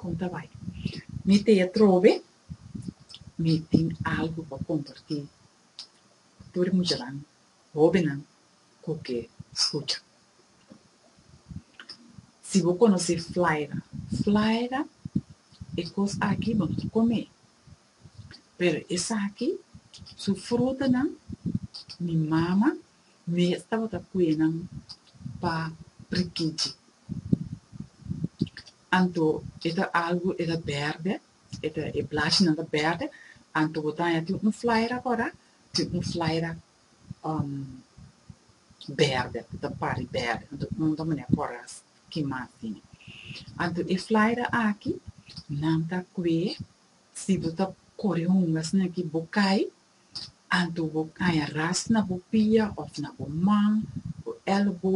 Kon ta bai? Mi te atrobe, mi tin algu pa kompartí ku tur e muchanan, hóbennan ku ke skucha. Si bo konosé flaira, flaira e kos aki bo no ta kome, pero esaki su frutanan mi mama Mi a tabata pue nan pa prikichi. Anto e ta algu e ta bèrdè, e ta e blashinan ta bèrdè, anto bo ta haña tin un flyer akora, tin un flyer bèrdè, bo ta pari bèrdè, anto un ta manera kòràs ki mas tin. Anto e flyer aki nan ta kue, si bo ta kore hunga asina ki bo kai Anto bo kaña ras na bo pia òf na bo man, bo èlbo,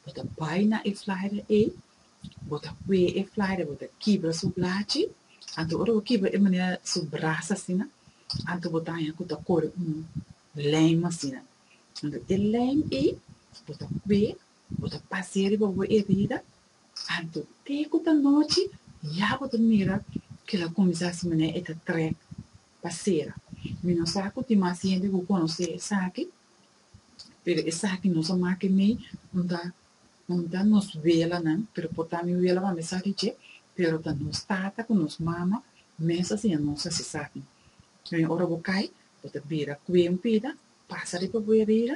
bo ta bai na e flyer ei, bo ta kue e flyer, bo ta kibra su blachi, anto ora bo kibra e manera su bras asina, anto bo ta haña ku ta kore un lèm asina. Anto e lèm ei bo ta kue, bo ta pas'e riba bo erida, anto te ku ta nochi ya bo ta mira kila kuminsá su manera e ta trèk. pa sera. Mi no sa ku tin mas hende ku konosé esaki, pero esaki no sa make mi punta punta nos welanan, pero por ta mi wela pa mi sa di dje, pero ta nos tata ku nos mama mes a siña nos hasi esaki. Wen ora bo kai, bo ta bira kue un pida, pasa riba bo herida,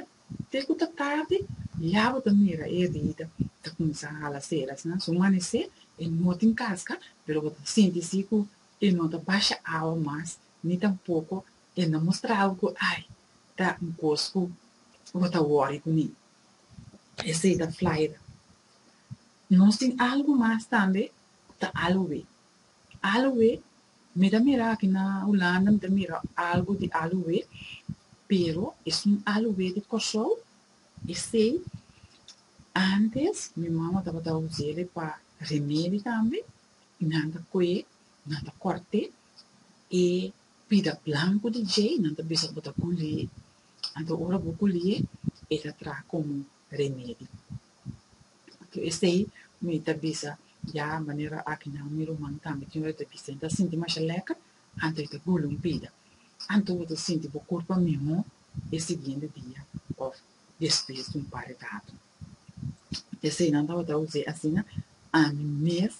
te ku ta tardi, ya bo ta mira e herida ta kuminsá hala seras nan. Su manesé e no tin kaska, pero bo ta sinti si ku E no ta basha awa mas ni tampoko e no mustra awa ku ai ta un kos ku bo ta wòri ku mi. Esei ta Florida. Nos tin algu mas tambe, ta aluwé. Aluwé, mi ta mira aki na Hulanda mi ta mira algu di aluwé, pero es un aluwé di Kòrsou. Esei ántes mi mama tabata usa e pa remedi tambe. Nan ta koe, nan ta kòrte e pida blanku di djei, nan ta bisa bo ta kuli, anto ora bo kuli e, e ta traha komo remedi. Anto esei mi ta bisa, ya manera akinan mi ruman tambe tin ora e ta bisa, e ta sinti masha lèker, anto e ta gula un pida, anto bo ta sinti bo kurpa mihó e siguiente dia òf despues di un par e tatu. E seinan tabata José asina, Ami mes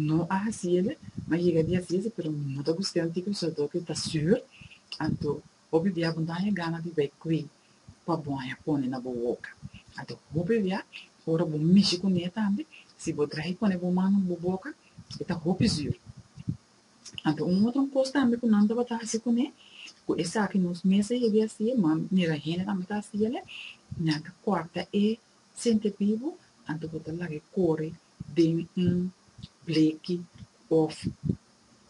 no a hasi el, ma yega dia si ese, pero mi no ta busca un tipo di soldado cu ta sur, anto hopi bia bo no haña gana di bay cu e pa bo haña pone na bo boca. Anto hopi bia, ora bo mishi cu ne tambe, si bo traha y pone bo man na bo boca, e ta hopi sur. Anto un otro kos tambe ku nan tabata hasi kuné, ku esaki nos mes a yega hasi, nan mira hende tambe ta hasi el, nan ta kòrta e sente bibu, anto bo ta laga e kore den un bleki òf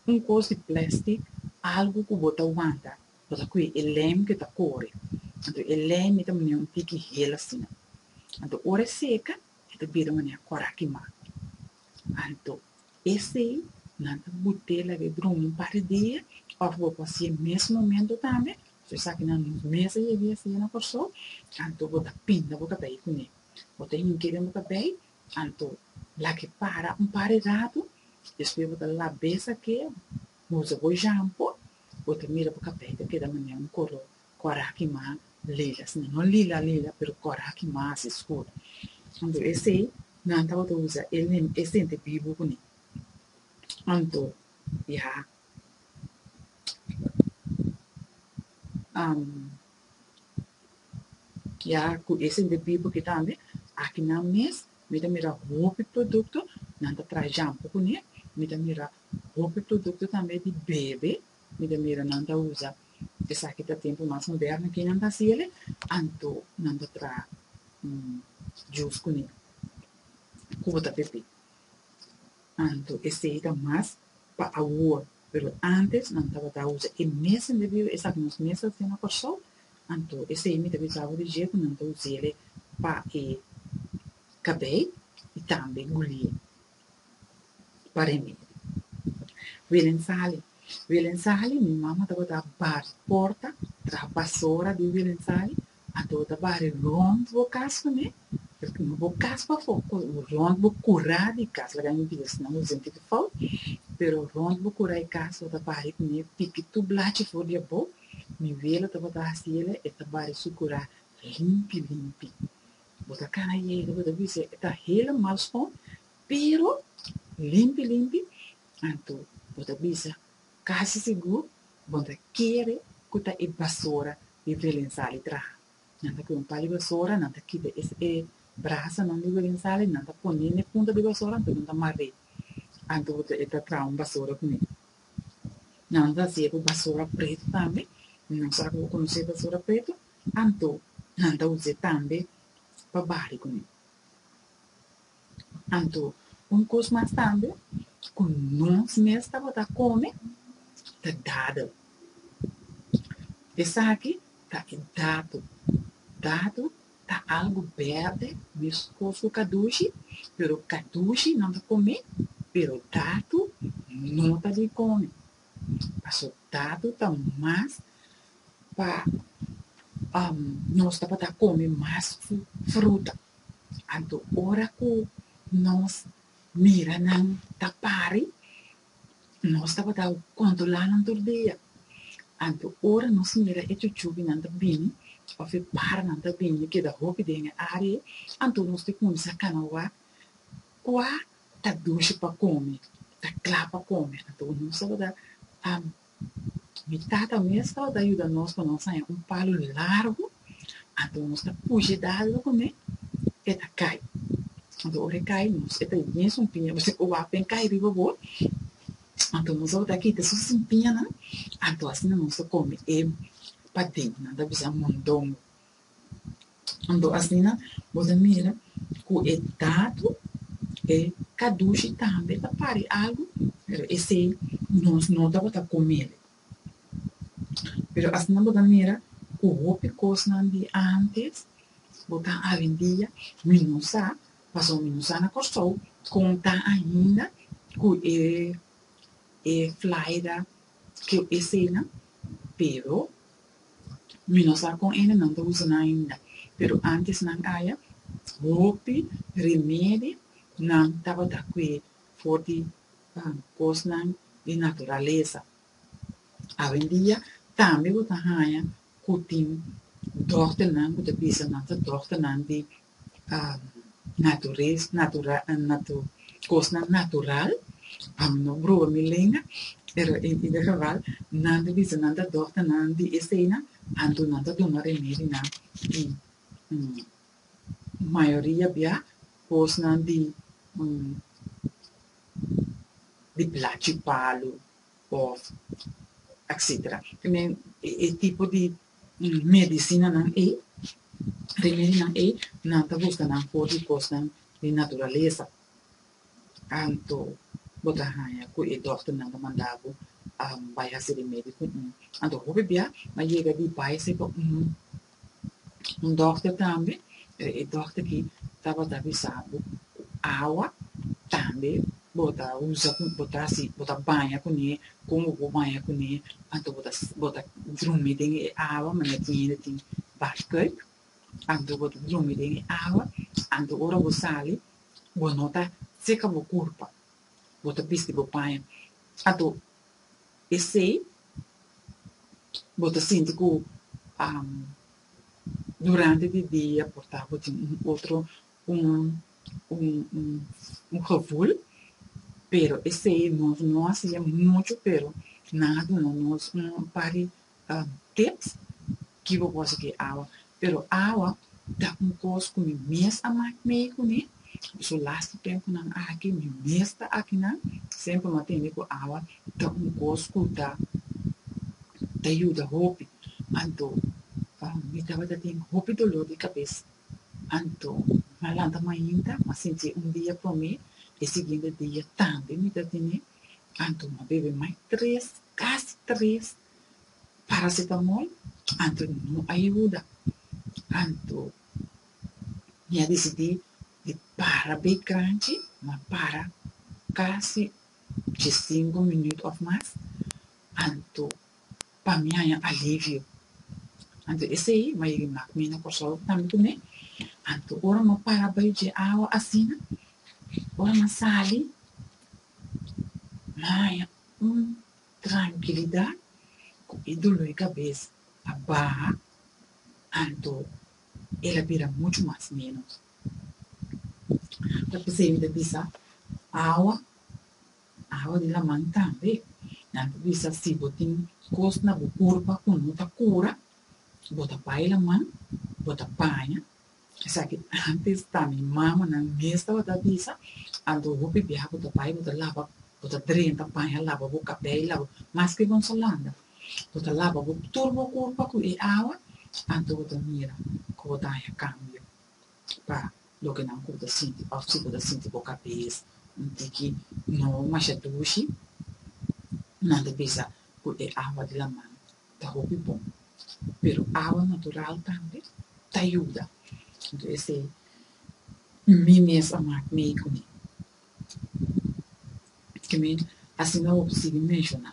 un kos di plèstik, algu ku bo ta wanta, bo ta kue e lèm ku e ta kore, anto e lèm i ta mane un tiki hel asina. Anto ora e seka, e ta bira manera kòraki mak. Anto, esei nan ta bute laga e drumi un par di dia, of bo por hasi e mes momento tambe, su esakinan nos mes a yega yasa ya na Kòrsou, anto bo ta pinda bo kabei kuné. Bo ta hink'é den bo kabei, anto lak'é para un par di ratu, despues bo ta lab'é sak'é, usa bo shampo, bo ta mira bo kabei ta keda manera un koró Cora aki mas lila, sino no lila lila, pero cora aki mas escuro. Anto esey nan tabata usa e lim, e sente bibu cuné. Anto ya ya cu e sente bibu aki tambe, aki nan mes mi ta mira hopi producto nan ta traha jampo cuné, mi ta mira hopi producto tambe di bebe, mi ta mira nan ta usa. Esaki ta tempu mas moderno ke nan basele, anto nan ta traha un jus kuné ku bo ta pepé. Anto esei ta mas pa awor, pero ántes nan tabata usa e mesen bebiba esaki nos mes ta hasié na Kòrsou, anto esei mi ta bisa bo di dje ku nan ta us'é pa e kabei i tambe gulié. Pare mi. Wilen Sali. Wilen Sali, mi mama tabata a bari porta, traha basora di Wilen Sali, anto ta bari rond bo kas ku mi, paske no bo kas pafó, rond bo kurá di kas, laga mi bisa si nan bo sinti ku fout, pero rond bo kurá e kas, bo ta bari ku mi, piki tur blachi for di abou, mi wele tabata hasi ele, e ta bari su kurá limpi limpi. Bo ta kana yega, bo ta bisa e ta helemal skon, pero limpi limpi, anto bo ta bisa kasi sigur bo ta kere ku ta e basora di Willem Sali traha. Nan ta kue un pali basora, nan ta kita e brasanan di Willem Sali, nan ta pone na e punta di basora anto nan ta mar'é, anto bo ta e ta traha un basora kuné. Nan ta hasié ku basora pretu tambe, no sa ku bo konosé basora pretu. Anto nan ta us'é tambe pa bari kuné. Anto un kos mas tambe ku nos mes tabata kome ta dadel. Esaki ta e datu. Datu ta algu berde meskos ku kadushi, pero kadushi nan ta kom'é, pero datu no ta di kome. Resultado ta mas pa um nos tabata come mas fruta. Anto ora cu nos mira nan ta pari, nos tabata controla nan tur dia. Anto ora nos mira e chuchunan ta bini of e paranan ta bini keda hopi den e area, anto nos tin cuminsa cana wak cua Ta dushi pa kome, ta kla pa kome, anto bo no sabadá. Am, mi tata mes tabata yuda nos pa nos haña un palu largu, anto nos ta pushi dal lo kuné, e ta kai. Anto ora e kai, nos e ta yu bien su piña, pasobra ku wapi en kai riba bo, anto nos tabata kita su sin piñanan, anto asina nos ta kome e padennan, ta bisa mondongo. Anto asina bo ta mira ku e datu e kadushi tambe ta pari algu, pero esei nos no tabata kome'e. Pero asina bo ta mira ku hopi kosnan di ántes bo ta awendia mi no sa, pasobra mi no sa na Kòrsou kon ta ainda ku e e flaida ku eseinan, pero Mi no sa kon ene nan ta usa nan ainda, pero antes nan aya hopi remedi nan tabata kue for di kosnan di naturalesa. Awendia tambe bo ta haña ku tin dòkternan ku ta bisa nan ta dòkternan di naturez natura natu kosnan natural pam no bruha mi lenga pero en e geval nan ta bisa nan ta dokter nan di eseinan anto nan ta duna remedinan y mayoria bia kosnan di di plachi palu of etcetera men e tipo di medicinanan ei, remedionan ei, nan ta busca nan for di cosnan di naturaleza, anto bo ta haya cu e dokternan ta manda bo bay haci remedio cu un, anto hopi bia a yega di bay haci pa un dokter tambe, e dokter aki tabata bisa bo ku awa tambe bo ta usa ku bo ta hasi bo ta baña kuné kon bo por baña kuné anto bo ta bo ta drumi den e awa manera tin hende tin bathtub anto bo ta drumi den e awa anto ora bo sali bo no ta seka bo kurpa bo ta bisti bo paña anto esei bo ta sinti ku durante di dia por ta bo tin un otro un gevoel, pero esei nos no a hasié muchu, pero nan a duna nos un par di tips ki bo por hasié awa, pero awa ta un kos ku mi mes a mak mei kuné, su las di tempunan aki mi mes ta akinan, semper mi a tende ku awa ta un kos ku ta ta yuda hopi, anto mi tabata ten hopi dolor di kabes Anto, na lanta mainta, m'a sinti un dia pa mi, e siguiente dia tambe mi ta tene. Anto, m'a bebe mai tres, casi tres, paracetamol, anto no a yuda. Anto, mi a dicidi di para bay cranchi, m'a para casi dje cinco minut of mas. Anto, pa mi haña alivio. Anto esei mai ri mak mi na Kòrsou tambe ku mi. Anto ora nan para bai dje awa asina, ora nan sali, nan haña un trankilidat ku e dolo di kabes a baha, anto el a bira muchu mas ménos. Ta p'esei mi ta bisa awa. Awa di laman tambe nan ta bisa si bo tin kos na bo kurpa ku no ta kura, bo ta bai laman, bo ta baña, esaki antes ta mi mama nan mes tabata a bisa, anto hopi biaha bo ta bai bo ta laba, bo ta drenta baña laba bo kabei laba, maske bon sa landa, bo ta laba bo tur bo kurpa ku e awa, anto bo ta mira ku bo ta haña kambio. pa loke nan ku bo ta sinti òf si bo ta sinti bo kabes un tiki no masha dushi, nan ta bisa ku e awa di laman ta hopi bon. Pero awa natural tambe ta yuda. Entonces mi mes a mak mi ei kuné. ke mi asina hopi sigui menshoná,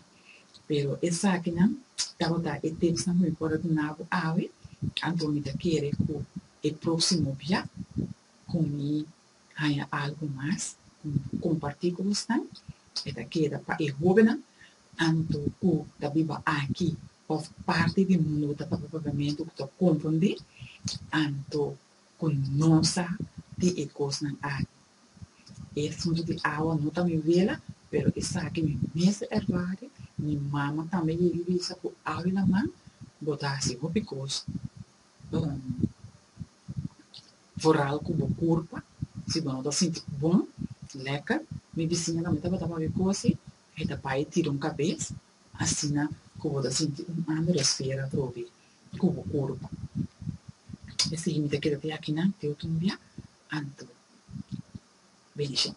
pero esakinan tabata e tipsnan ku mi por a duna bo awe, anto mi ta kere ku e próksimo bia ku mi haña algu mas ku mi por kompartí ku bosnan, e ta keda pa e hóbennan anto ku ta biba aki òf parti di mundu ku ta papia Papiamentu ku ta komprondé, anto Ku no sa di e kosnan aki. E fonte di awa no ta mi wela, pero esaki mi mes a ervare, mi mama tambe a yega bisa ku awa di laman bota hasi hopi kos bon, vooral ku bo kurpa, si bo no ta sinti bon, lekker. Mi bisiña tambe tabata papia kosi, e ta bai tira un kabes, asina ku bo ta sinti un ander esfera atrobe. ku bo kurpa. Esei mi ta keda te akinan te otro bia anto benishon.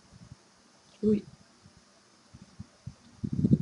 Ui.